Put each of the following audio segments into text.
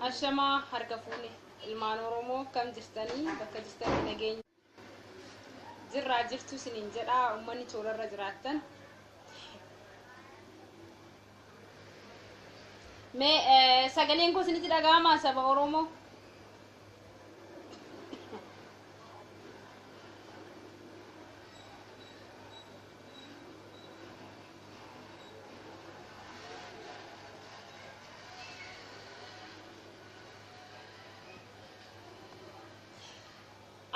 Ashamaa harka fuune ilmaan Oromoo kam jirtanii bakka jirtanii nageenya. Jirraa jirtuu sinin jedhaa ummanni toorarra jiraattan. Mee eh, sagaleen koo isinitti dhaga'amaa saba Oromoo?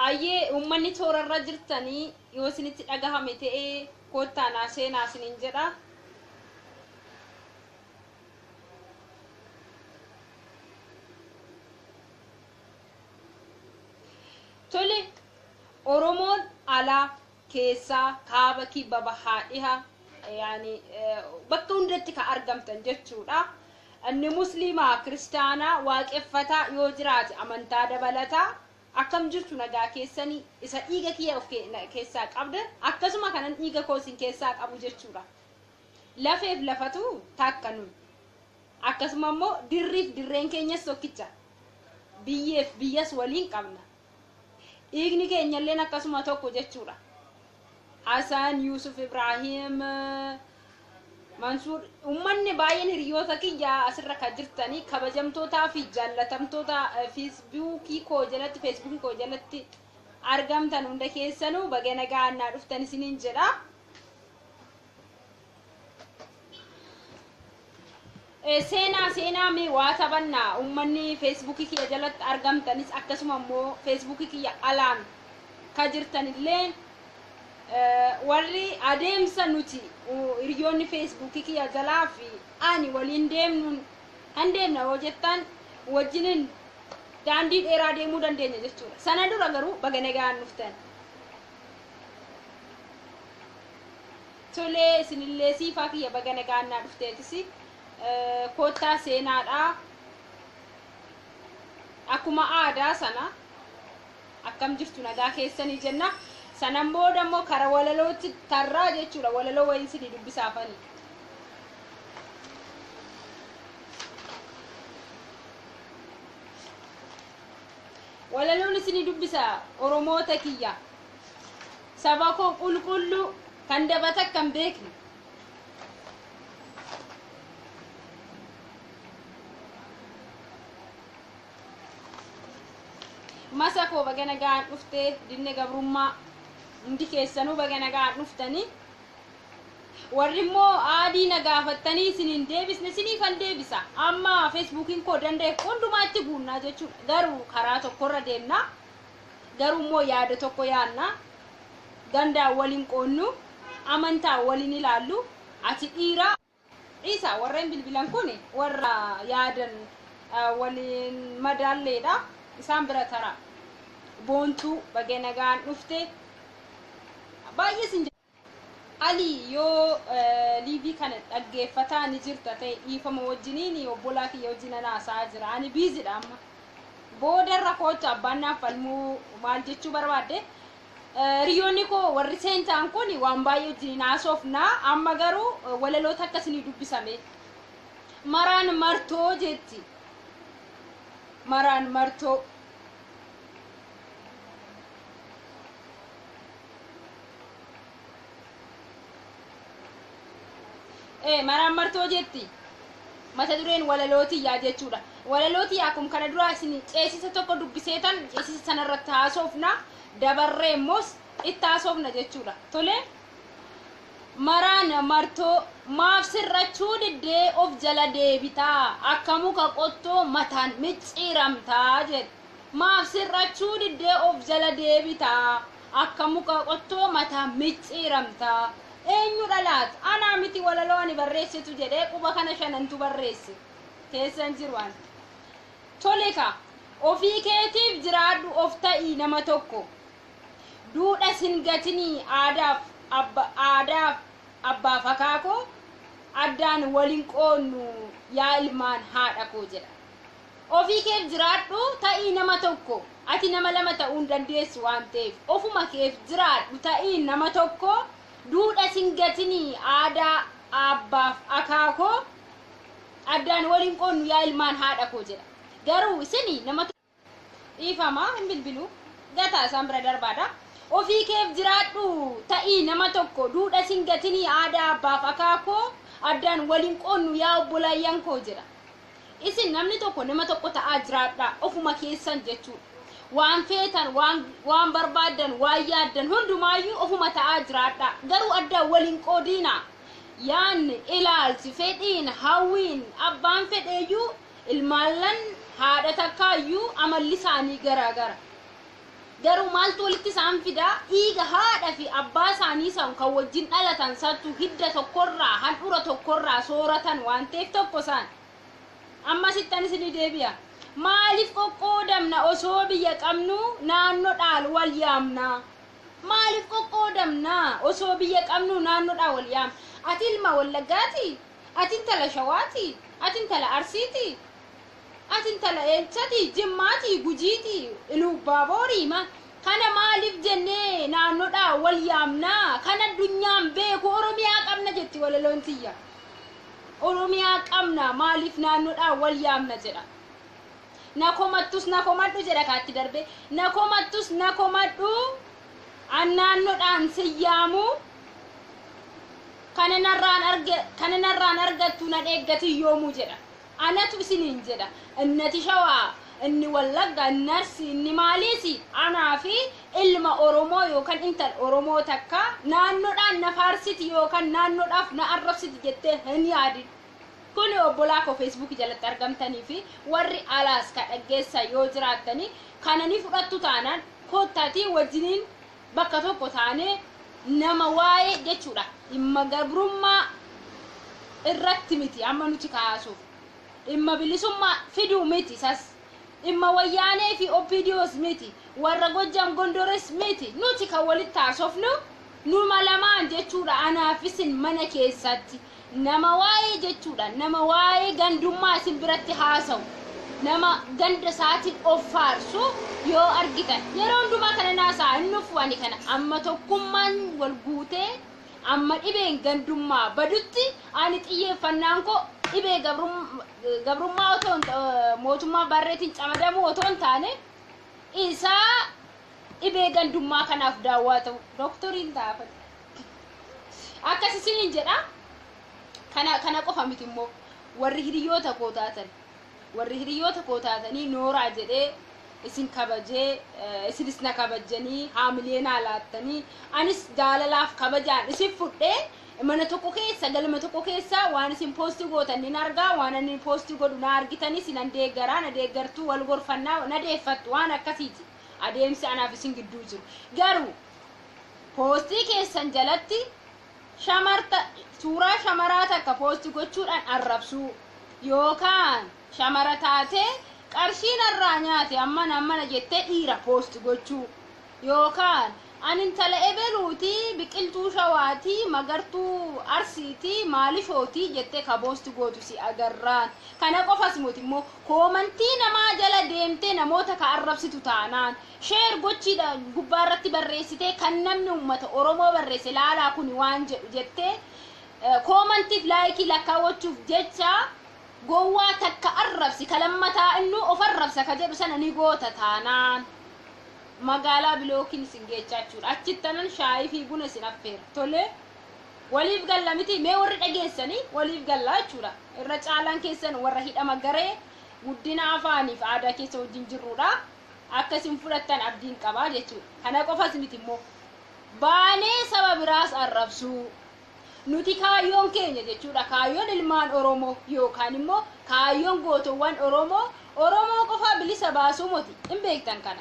Ayyee ummanni toora irra jirtanii yoo isinitti dhagahame ta'e koottaa naa seenaa isiniin jedha. Tole Oromoon alaa keessaa kaaba kibba bahaa dhiha yaani bakka hundatti ka argamtan jechuudha. Inni musliimaa kiristaanaa waaqeffataa yoo jiraate amantaa dabalataa Akkam jirtu nagaa keessani isa dhiiga kiyya of keessaa qabdan akkasuma kanan dhiiga koo isin keessaa qabu jechuudha. Lafeef lafatu takka nu. Akkasuma immoo dirriif dirreen keenyas tokkicha. Biyyeef biyyas waliin qabna. Dhiigni keenyalleen akkasuma tokko jechuudha. Hasan Yusuf Ibrahim Mansuur ummanni baay'een hiriyoota kiyya asirra kan jirtanii kabajamtootaa fi jaallatamtoota feesbuukii koo jalatti feesbuukii koo jalatti argamtan hunda keessanuu baga nagaan naa dhuftan isiniin jedha. Eh, seenaa seenaa mee waa taphanna ummanni feesbuukii kiyya jalatti argamtanis akkasuma immoo feesbuukii kiyya alaan ka jirtanillee eh, warri adeemsa nuti u- hiriyoonni feesbuukii kiyya jalaa fi ani waliin deemnuun hin deemna yoo jettan wajjiniin daandii dheeraa deemuu dandeenya jechuudha sana dura garuu baga nagaan dhuftan Tolee isinillee siifaa kiyya baga nagaan naa dhufteetisi koottaa seenaadha akkuma aadaa sana akkam jirtu nagaa keessanii jenna sanan booda immoo kara walalootti tarraa jechuudha walaloo wayiin isinii dubbisaafani. Walaloon isinii dubbisa oromoota kiyya. Saba koo qulqulluu kan dabata akka hin beekne. Masa koo baga nagaan dhufte dinne gabrummaa hundi keessanuu baga nagaan dhuftanii. Warri immoo aadii na gaafattanii isin hin deebisne isiniifan deebisa. Amma feesbuukiin koo danda'e hundumaa itti guunnaa jechuudha. Garuu karaa tokkorra deemna. Garuu immoo yaada tokko yaadna. Gandaan wal hin qoonnu. Amantaan wal hin ilaallu. Ati dhiira. Dhiisa warreen bilbilan kun warra yaadan waliin madaalleedha. Isaan bira tara. Boontuu bagee nagaan dhufte. Baay'ee sin Ali yoo liivii kana dhaggeeffataa ni jirta ta'e dhiifama wajjiniin obbolaa kiyya wajjin ana haasa'aa jira ani biizidha amma boodarra koocha abbaan naaf falmuu maal jechuu barbaadde hiriyoonni koo warri seentaan kun waan baay'ee wajjiniin haasofna amma garuu walaloo takka isinii dubbisame maraan martoo jetti maraan martoo Ee, maraammartoo jetti. Mata dureen walaloo tiyyaa jechuudha. Walaloo tiyyaa akkuma kana duraa isin ceesisa tokko dubbiseetan ceesisa sanarratti haasofna dabarree immoos itti haasofna jechuudha. Tolee? maraan martoo maaf sirrachuu diddee of jala deebitaa akka muka qottoo mataan micciiramtaa jedhe. Maaf sir'achuu diddee of jala deebita? Akka muka qottoo mataa micciiramta. Eenyudha laata? Anaa miti walaloo ani barreessetu jedhee quba kana shanantu barreesse. Keessa hin jiru ani. Tole kaa, ofii keetiif jiraadhu of ta'i nama tokko. Duudhas hin gatinii aadaaf abba aadaaf abbaaf akaakoo addaan wal hin qoodnu yaa ilmaan haadha koo jedha. Ofii keef jiraadhu, ta'ii nama tokko. Ati nama lama ta'uu hin dandeessu waan ta'eef. Ofuma keef jiraadhu, ta'ii nama tokko. Duudhas hin gatini, aadaa aabbaaf akaakoo addaan wal hin qoodnu yaa ilmaan haadha koo jedha. Garuu isin nama dhiifama hin bilbilu gataa isaan bira darbaadha. Ofii keef jiraadhu, ta'ii nama tokko. Duudhas hin gatini, aadaa aabbaaf akaakoo addaan wal hin qoodnu yaa obbolaayyan koo jedha. Isin namni tokko nama tokko ta'aa jiraadhaa ofuma keessan jechuudha. Waan feetan, waan, waan barbaaddan, waan yaaddan hundumaayyuu ofuma ta'aa jiraadhaa. Garuu addaan waliin qoodiinaa. Yaanni, ilaalchi, fedhiin, hawwiin, abbaan fedheeyyuu ilmaallan haadha takkaayyuu amalli isaanii garaagara. Garuu maaltu walitti isaan fida? Dhiiga haadha fi abbaa isaanii san kan wajjin dhalatan santu hidda tokkorraa, handhura tokkorraa sooratan waan ta'eef tokko isaan. Amma sittan isinii deebi'a. Maaliif qoqqoodamna osoo biyya qabnu naannodhaan wal yaamna? Maaliif qoqqoodamna osoo biyya qabnu naannodhaan wal yaamna? Ati ilma Wallaggaati? Ati intala Shawaati? Ati intala Arsiiti? Ati intala Eechati, Jimmaati, Gujiiti, Iluubbaaboorii ma kana maaliif jennee naannoodhaa wal yaamnaa? Kan addunyaan beeku Oromiyaa qabna jetti walaloon tiyya. Oromiyaa qabna maaliif naannoodhaa wal yaamna jedha. Na komattus na komadhu jedha kaatti darbee. Na komattus na komadhu an naannoodhaan sin yaamu kana narraan arge kana narraan argattu nan eeggatin yoomuu jedha. Anatu isiniin jedha, inni ati Shawaa, inni Wallagga, inni Arsii, inni maaliis anaa fi ilma Oromoo yookan intal Oromoo takka naannodhaan na faarsiti yookan naannodhaaf na arrabsiti jettee hin yaadin. Kuni obbolaa koo Facebook jalatti argamtanii fi warri alaas ka dhaggeessan yoo jiraattanii kana ni fudhattu taanaan kottaatii wajjiniin bakka tokko taanee nama waa'ee jechuudha dhimma gabrummaa irratti miti amma nuti kaasuuf dhimma bilisummaa fiduu miti isas dhimma wayyaanee fi OPDOs miti warra gojjaam gondores miti nuti kan walitti haasofnu numa lamaan jechuudha anaaf isin mana keessatti Nama waa'ee jechuudhaan nama waa'ee gandummaa isin biratti haasa'u, nama ganda isaatiin of faarsu yoo argitan, yeroo hundumaa kanan haasa'a hin dhufu ani kana, amma tokkummaan wal guutee, amma dhibeen gandummaa badutti ani xiyyeeffannaan koo dhibee gabrum- gabrummaa otoo hin ta- eh, mootummaa barreetiin camadamuu otoo hin taane isaa dhibee gandummaa kanaaf daawwaa ta'u doktoriin ta'a. akkas isiniin jedha kana kana qofa miti immoo warri hiriyoota koo taatan warri hiriyoota koo taatanii nooraa jedhee isin kabajee eh, isinis na kabajanii haamilee naa laattanii anis jaalalaaf kabajaan isin fudhee mana tokko keessa galma tokko keessa waan isin poostii gootan nin argaa waan ani poostii godhu na argitanii sinan deeggaraa na deeggartuu wal gorfannaa na deeffattu waan akkasiiti adeemsi anaaf isin gidduu jiru garuu Poostii keessan jalatti shamarta suuraa shamaraa takka poosti gochuudhaan arrabsuu yookaan shamara taatee qarshiin irraa nyaate ammana ammana jettee dhiira poosti gochuu yookaan ani intala ebeluutii biqiltuu shawaatii magartuu arsiitii maalishootii jettee ka poosti gootu si agarraan kana qofas moti immoo koomantii namaa jala deemtee namoota ka arrabsitu taanaan Share gochiidhaan gubbaa irratti barreessitee kan namni uummata Oromoo barreesse laalaa kuni waan jedhu jettee koomantiif laayikii lakkaawwachuuf jecha gowwaa takka arrabsi ka lammataa innuu of arrabsa ka jedhu sana ni goota taanaan magaalaa bilookiin isin geechaa jechuudha achitti tanan shaayii fi buna isin affeera tolee waliif galla miti mee warri dhageessanii waliif galla jechuudha irra caalaan keessan warra hidhama garee guddina afaaniif aadaa keessa wajjin jirruudha. akka isin fudhattan abdiin qabaa jechuudha. Kana qofas miti immoo baanee saba biraas arrabsuu nuti kaayyoon keenya jechuudha kaayyoon ilmaan Oromoo yookaan immoo kaayyoon gootowwan Oromoo Oromoo qofaa bilisa baasuu moti hin beektan kana.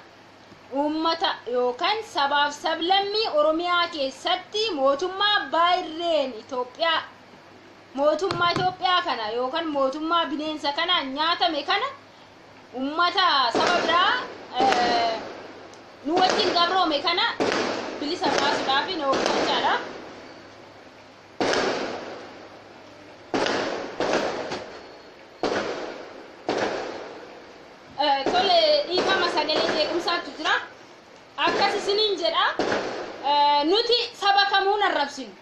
Uummata yookaan sabaaf sablammii Oromiyaa keessatti mootummaa abbaa irreen Itoophiyaa mootummaa Itoophiyaa kana yookaan mootummaa bineensa kanaan nyaatame kana ummata saba biraa nu wajjin gabroome kana bilisa baasuudhaaf na hojjechaadha. Tole dhiifama sagalee jeequmsaatu jira. Akkas isiniin jedha nuti saba kamuu hin arrabsinu.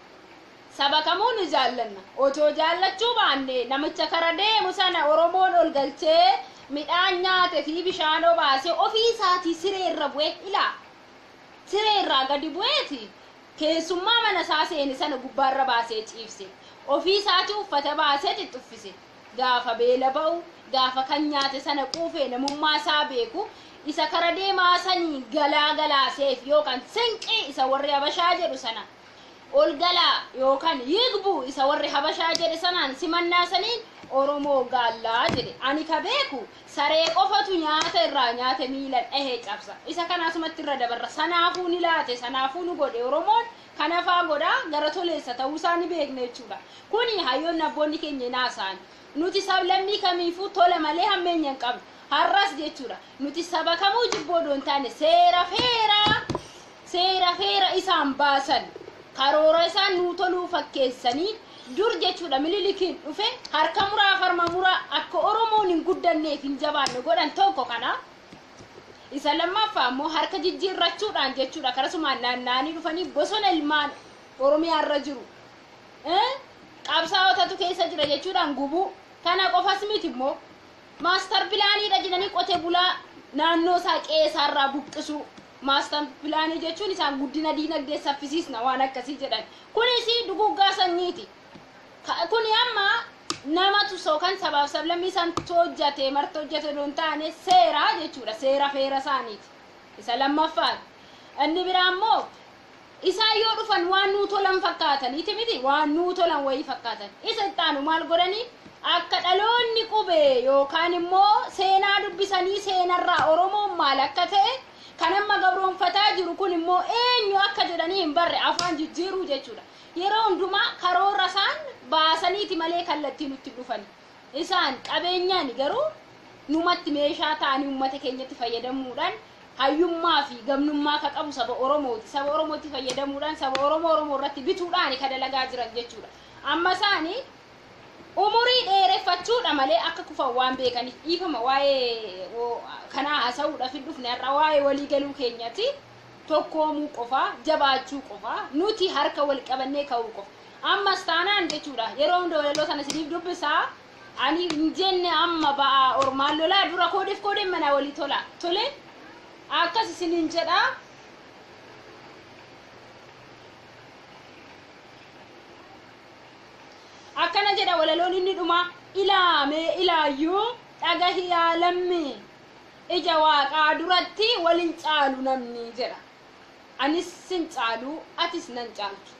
Saba kamuu ni jaallanna. Otoo jaallachuu baannee namicha kara deemu sana Oromoon ol galchee midhaan nyaate fi bishaan obaasee ofii isaatii siree irra bu'ee ilaa! Siree irraa gadi bu'eeti keessummaa mana isaa seene sana gubbaa irra baasee ciibse. Ofii isaatii uffata baasee xixxuffise. Gaafa beela ba'u, gaafa kan nyaate sana quufee namummaa isaa beeku isa kara deemaa saniin galaa galaaseef yookaan sinqii isa warri Habashaa jedhu sana ol galaa yookaan yigbu isa warri habashaa jedhe sanaan simannaa saniin oromoo gaallaa jedhe ani ka beeku saree qofatu nyaata irraa nyaate miila dhahee cabsa isa kana asumatti irra dabarra sanaafuu ni laate sanaafuu nu godhe oromoon kanafaa godhaa gara toleessa ta'uu isaa ni beekna jechuudha kuni hayyoonni abboonni keenya hin haasa'an nuti sablammii kamiifuu tola malee hammeenya hin qabnu har'as jechuudha nuti saba kamuu jibboo doon taane seera feeraa Seera heera isaan baasan karoora isaan nuu toluu fakkeessanii dur jechuudha Mililikiin dhufe harka muraaf harma muraa akka Oromoon hin guddanneef hin jabaanne godhan tokko kana isa lammaffaa immoo harka jijjiirrachuudhaan jechuudha karasumaan naanna'anii dhufanii bosona ilmaan Oromiyaa irra jiru eh, qabsaa'otatu keessa jira jechuudhaan gubuu kana qofas miti immoo maastar pilaaniidha jedhanii qote bulaa naannoo isaa qe'ee isaarraa buqqisuu Maastar pilaanii jechuun isaan guddina diinagdee saffisiisna waan akkasii jedhan. Kunis duguuggaa sanyiiti. Ka- Kuni amma namatu sookan sabaaf sablammii santu hojjate marti hojjate odoo hin taane seera jechuudha. Seera feera isaaniiti. Isa lammaffaati. Inni biraa immoo Isaan yoo dhufan waan nuu tolan fakkaatan, iti miti waan nuu tolan wayii fakkaatan. Isa itti aanu maal godhanii? Akka dhaloonni qubee yookaan immoo seenaa dubbisanii seenarraa Oromoon maal akka ta'e kan amma gabroonfataa jiru kun immoo eenyu akka jedhanii hin barre afaan jijjiiruu jechuudha. Yeroo hundumaa karoora isaan baasaniiti malee kallattii nutti hin dhufani. Isaan qabeenyaan garuu numatti meeshaa ta'anii ummata keenyatti fayyadamuudhaan hayyummaa fi gamnummaa ka qabu saba Oromooti. Saba Oromootti fayyadamuudhaan saba Oromoo Oromoo irratti bituudhaan ka dalagaa jiran jechuudha. Amma isaani umurii dheereffachuudha malee akka kufan waan beekaniif dhiifama waa'ee kanaa haasa'uudhaaf hin dhufne har'a waa'ee walii galuu keenyati. tokkoomuu qofa, jabaachuu qofa, nuti harka wal qabannee ka'uu qofa. Ammas taanaan jechuudha yeroo hunda walaloo sana isiniif dubbisa. Ani hin jenne amma ba'aa ormaan lolaa dura koodef koodeen manaa walii tola. Tole akkas isiniin jedha. Akkana jedha walaloon inni dhuma ilaamee ilaayyuu dhagahi yaa lammii. Ija Waaqaa duratti wal hin caalu namni jedha. Anis sin caalu, atis nan caaltu.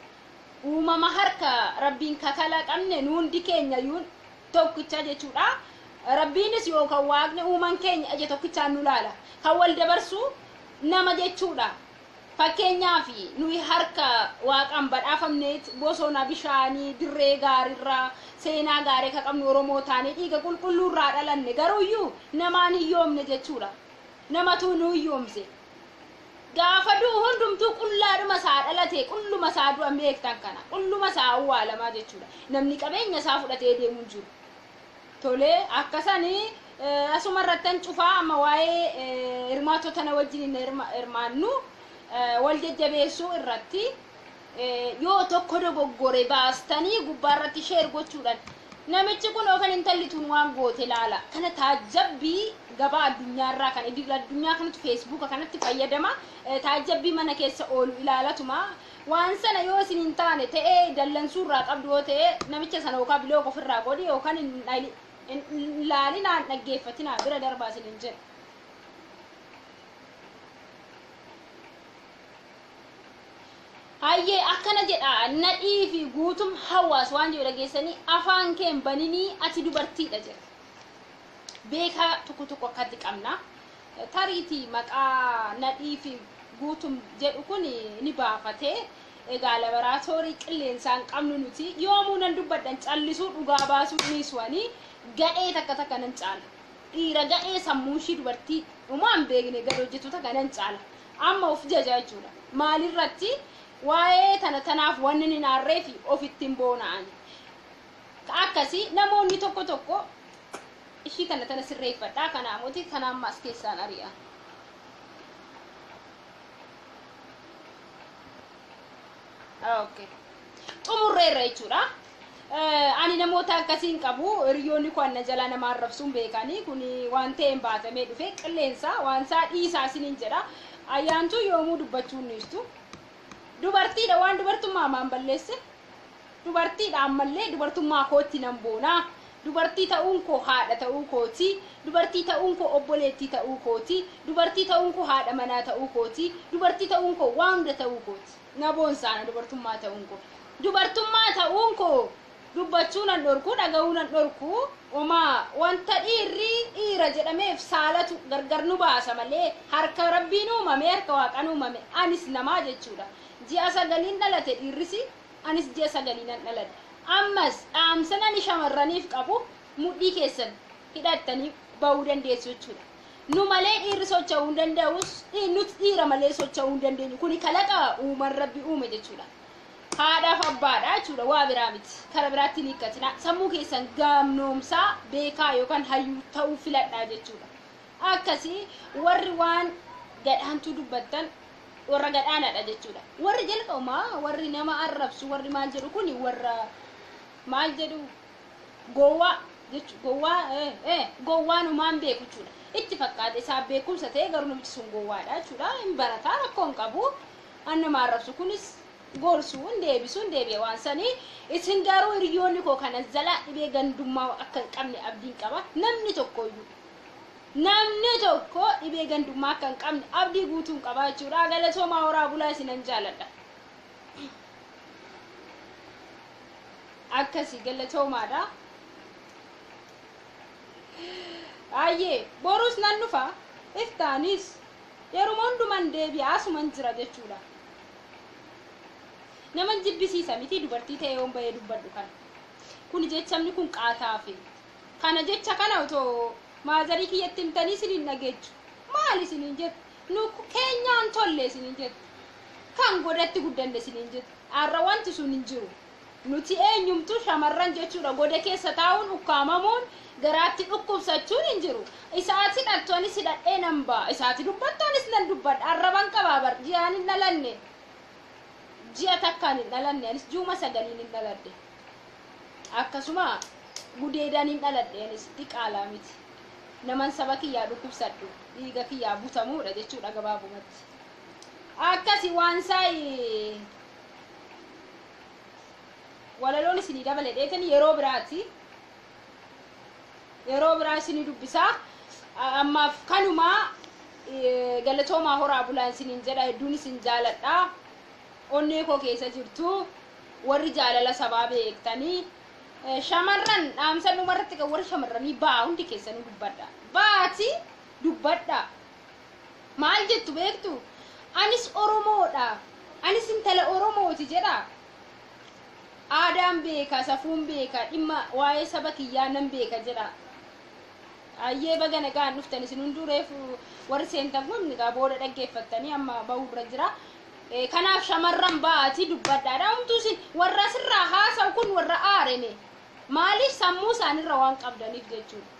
Uumama harka Rabbiin ka kalaqamne nu hundi keenyayyuun tokkicha jechuudha. Rabbiinis yookaan Waaqni uuman keenya ija tokkichaan nu laala. Kan wal dabarsu nama jechuudha. Fakkeenyaaf, nuyi harka Waaqaan badhaafamneet, bosona, bishaanii, dirree gaarirraa, seenaa gaarii akka qabnu Oromoo taanee, dhiiga qulqulluurraa dhalanne. Garuuyyuu, namaan hiyyoomne jechuudha. Namatu nu hiyyoomse. Gaafa du'u hundumtuu qullaadhuma isaa dhalate, qulluma isaa du'a beektan kana. Qulluma isaa awwaalamaa jechuudha. Namni qabeenya isaa fudhatee deemu hin jiru. Tole akkasani asuma irrattan cufaa amma waa'ee hirmaattota na wajjin hirmaannu wal jajjabeessuu irratti yoo tokko dogoggore baastanii gubbaa irratti sheer gochuudhaan namichi kun yookaan intalli tun waan goote laala kana taajjabbii gabaa addunyaa irraa kan idil addunyaa kanatu feesbuuka kanatti fayyadama taajjabbii mana keessa oolu ilaalatuma Waan sana yoo isin hin taane ta'ee dallansuu irraa qabdu yoo ta'e namicha sana yookaan biloog ofirraa godhi yookaan hin dhali- hin- hin ilaalinaa hin dhaggeeffatinaa bira darbaa isin hin jedhu. Hayyee akkana jedha nadhii fi guutum hawaas waan jedhu dhageessanii afaan kee hin baninii ati dubartiidha jedha. Beekaa tokko tokko akkatti qabna. Tariitii maqaa Nadhii fi Guutum jedhu kun ni baafate. Egaa laboraatoorii qilleensaa hin qabnu nuti. Yoomuu nan dubbadhan callisuu dhugaa baasuu dhiisu ani. Gadhee takka takka nan caala. Dhiira gadhee sammuun ishii dubartii dhumaa hin beekne gad hojjetu takka nan caala. Amma of jaja jechuudha. Maalirratti waa'ee tana tanaaf wanni hin aarree fi ofitti hin boona ani. Ka akkasi namoonni tokko tokko ishii tana tana sirreeffadhaa kana amoti kana amma as keessaan ari'a. Okay. Xumurreerra jechuudha. Eh, Ani namoota akkasii hin qabu hiriyoonni koo anna jalaa nama arrabsuun beekanii kun waan ta'een baatamee dhufe qilleensa waan isaa dhiisaa isiniin jedha ayyaantuu yoomuu dubbachuu hin dhiistu dubartiidha waan dubartummaa maan balleesse Dubartiidha ammallee dubartummaa kootti nan boona. Dubartii ta'uun koo haadha ta'uu kooti. Dubartii ta'uun koo obboleettii ta'uu kooti. Dubartii ta'uun koo haadha manaa ta'uu kooti. Dubartii ta'uun koo waa hunda ta'uu kooti. Na boonsa ana dubartummaa ta'uun koo. Dubartummaa ta'uun koo dubbachuu nan dhorku, dhaga'uu nan dhorku. Omaa wanta dhiirri dhiira jedhameef saalatu gargar nu baasa malee harka Rabbiin uumame, harka Waaqaan uumame anis namaa jechuudha. Ji'a sagaliin dhalate dhiirrisi, anis ji'a sagalii nan dhaladhe. Ammas, dhaamsan ani shamarraniif qabu, mudhii keessan hidhattanii ba'uu dandeessu jechuudha. Nu malee dhiirri socha'uu hin danda'us, dhi- nuti dhiira malee socha'uu hin dandeenyu. Kuni kalaqa uuman rabbi uume jechuudha. Haadhaaf abbaadha jechuudha, waa biraa miti. Kara biraatti hin hiikkatinaa. Sammuu keessan gaamnoomsaa, beekaa yookaan hayyuu ta'uu filadhaa jechuudha. Akkasii warri waan gadhaantuu dubbattan warra gadhaanaadha jechuudha. Warri jalqabumaa warri nama arrabsu warri maal jedhu kuni warra maal jedhu gowwaa jechu gowwaa eh, eh, gowwaan homaan beeku jechuudha. Itti fakkaata isaaf beekumsa ta'e garuu namichi sun gowwaadha jechuudha. Hin barataa rakkoo hin qabu. An nama arrabsu kunis gorsuu hin deebisu hin deebi'a waan sanii. Isin garuu hiriyoonni koo kana jalaa dhibee gandummaa akka hin qabne abdiin qaba. Namni tokkoyyuu Namni tokko dhibee gandummaa akka hin qabne abdii guutuun qaba jechuudha. Galatoomaa horaa bulaa isinan jaaladha. Akkasi galatoomaadha. Ayyee boruus nan dhufa iftaanis yeruma hunduman deebi'a asuman jira jechuudha. Naman jibbisiisa miti dubartii ta'ee yoon bahee dubbadhu kana. Kun jechamni kun qaataafi Kana jecha kana otoo maazarii kiyyatti himtanii isin hin dhageechu. Maal isiniin jette? Nu keenyaan tolle isiniin jette. Kan godatti guddanne isiniin jette. Har'a wanti sun hin jiru. Nuti eenyumtuu shamarran jechuudha. Goda keessa taa'uun ukkaamamuun garaatti dhukkubsachuun hin jiru. Isaati dhaltu anis hidhadhee nan ba'a. Isaati dubbattu anis nan dubbadha. Arraban qabaa bar ji'aan hin dhalanne. Ji'a takkaan hin dhalanne anis juuma sagaliin hin dhaladhe. akkasuma gudeedaniin dhaladhe anis diqaalaa miti naman saba kiyyaa dhukkubsadhu dhiiga kiyyaa butamuudha jechuudha gabaabumatti akkasi waan saayi walaloon isinii dabale dheetan yeroo biraati yeroo biraa isinii dubbisaa A- ammaaf kanumaa eh, galatoomaa horaa bulaan isiniin jedha hedduun isin jaaladha onnee koo keessa jirtu warri jaalala sabaa beektanii eh, shamarran dhaamsa dhuma irratti kan warri shamarranii ba'aa hundi keessanuu dubbadha ba'aati dubbadha maal jettu beektu anis oromoodha anis intala oromooti jedha aadaan beeka safuun beeka dhimma waa'ee saba kiyyaa nan beeka jedha ayyee baga nagaan dhuftan isin hunduu reefu warri seentan kun egaa booda dhaggeeffattanii amma ba'uu irra jira Eh, kanaaf shamarran ba'aatii dubbadhaadha umtuu sin warra sirraa haasa'u kun warra aareme maaliif sammuu isaanirra waan qabdaniif jechuudha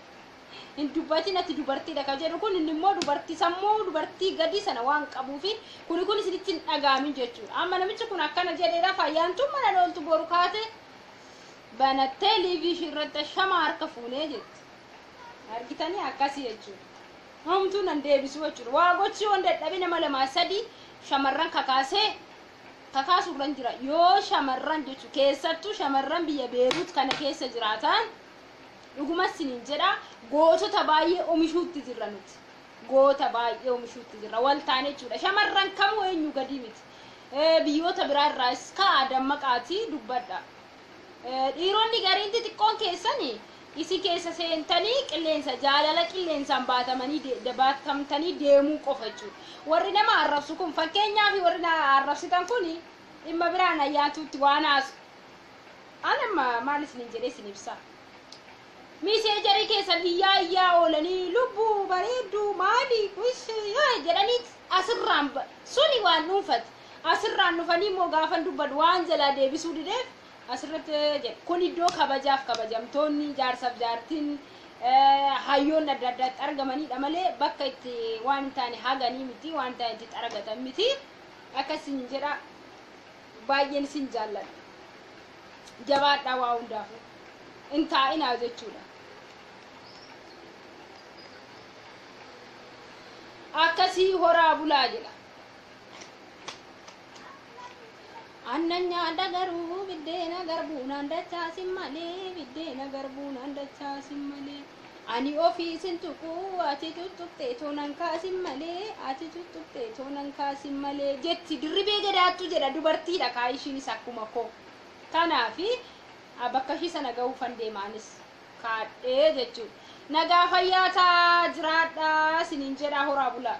hin dubbatiin ati dubartiidha ka jedhu kun inni immoo dubartii sammuu dubartii gadii sana waan qabuufi kuni kun isinitti hin dhagaamin jechuudha amma namichi kun akkana jedheedha fayyaantuun mana dhooltu boru kaate banattee liivii ishii irratti shama harka fuunee jetti argitanii akkasii jechuudha Homtuu nan deebisuu jechuudha. Waa gochuu yoon dadhabe nama lamaa sadii shamarran kakaasee kakaasu irran jira. Yoo shamarran jechu keessattuu shamarran biyya Beeruut kana keessa jiraatan dhuguma siniin jedha gootota baay'ee omishuutti jirra nuti. Goota baay'ee omishuutti jirra. Wal taane jechuudha. Shamarran kamuu eenyu gadii miti. Eh, Biyyoota biraa irraas ka'a dammaqaatii dubbadha. Dhiironni gariin xixiqqoon keessan isin keessa seentanii qilleensa jaalala qilleensaan baatamanii de- de- baatamtanii deemuu qofa jechuudha. Warri nama arrabsu kun fakkeenyaaf warri na arrabsitan kun dhimma biraan ayyaantuutti waan haasu. Ani amma maal isiniin jedhee isin ibsaa? Miseejarii keessan iyyaa iyyaa oolanii lubbuu bareedduu maali kuis yoo jedhanii asirraan ba- suni waan dhuunfati. Asirraan dhufanii immoo gaafan dubbadhu waan jalaa deebisuu dideef asirratti jedhe. Kun iddoo kabajaaf kabajamtoonni jaarsaaf jaartiin hayyoonni adda addaa itti argamanidha malee bakka itti waan hin taane haganii miti waan taane itti xaragatan miti. Akkas isin jedha baay'een isin jaalladha. Jabaadhaa waa hundaafuu. Hin taa'inaa jechuudha. Akkasii horaa bulaa jedha. Annan nyaadha garuu biddeena garbuunaan dachaasin malee biddeena garbuunaan dachaasin malee ani ofii sin tuqu ati tuttuqxee toonan kaasin malee ati tuttuqxee toonan kaasin malee jetti dirribee gadaattu jedha dubartiidha kaa ishiinis akkuma koo kanaafi a, bakka ishii sana gahuufan deemaanis kaadhee jechuudha nagaa fayyaa taa jiraadhaa sinin jedhaa horaa bulaa.